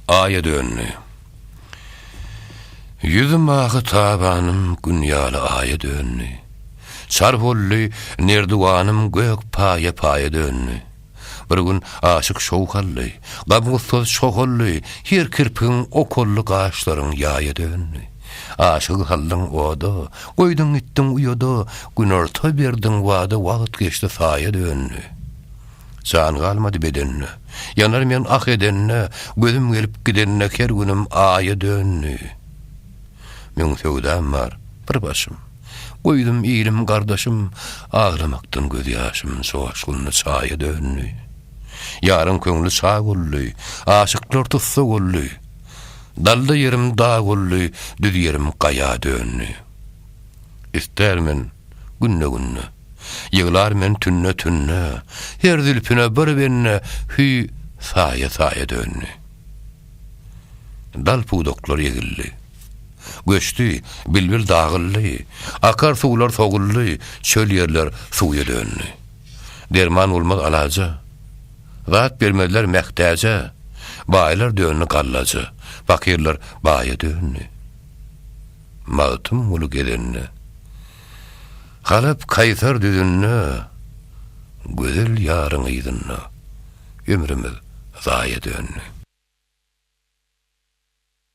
Aýa döndi. Ýüzüm ahy tabanym Gün ýaly aýa döndi. Çar boldy nerdiwanym Gök paýa paýa döndi. Bir gün aşyk şowhally, Gam-gussaz çohally, Her kirpigiň okally Gaşlaryň ýaýa döndi. Aşygy saldyň oda, Goýduň gitdiň uýada, Günorta berdiň wada Wagt geçdi saýa döndi. Jan galmady bedenine. Ýanar men ah edenine, Gözüm gelip gidenine Her günüm aýa döndi. Müň söwdam bar, bir başym. Goýdum ilim, gardaşym, Aglamakdan göz ýaşym Joşgunly çaýa döndi. Ýaryň köňli çag boldy, Aşyklar tussag boldy. Dalda ýerim dag boldy, Düz ýerim gaýa döndi. Ister men günde-günde. Ýyglar men tünne-tünne, Her zülpüne bir benne Hüý, saýa-saýa döndi. Dal pudaklar egildi. Göçdi, bilbil dagyldy, Akar suwlar soguldy, Çöl ýerler suwya döndi. Derman bolmaz alaja, Zat bermezler mähtäje, Baýlar döndi gallaja, Pakyrlar baýa döndi. Magtymguly gezende. Galyp Kaýsar düzünde, Gözel ýaryň yzynda, Ömrümiz zaýa döndi.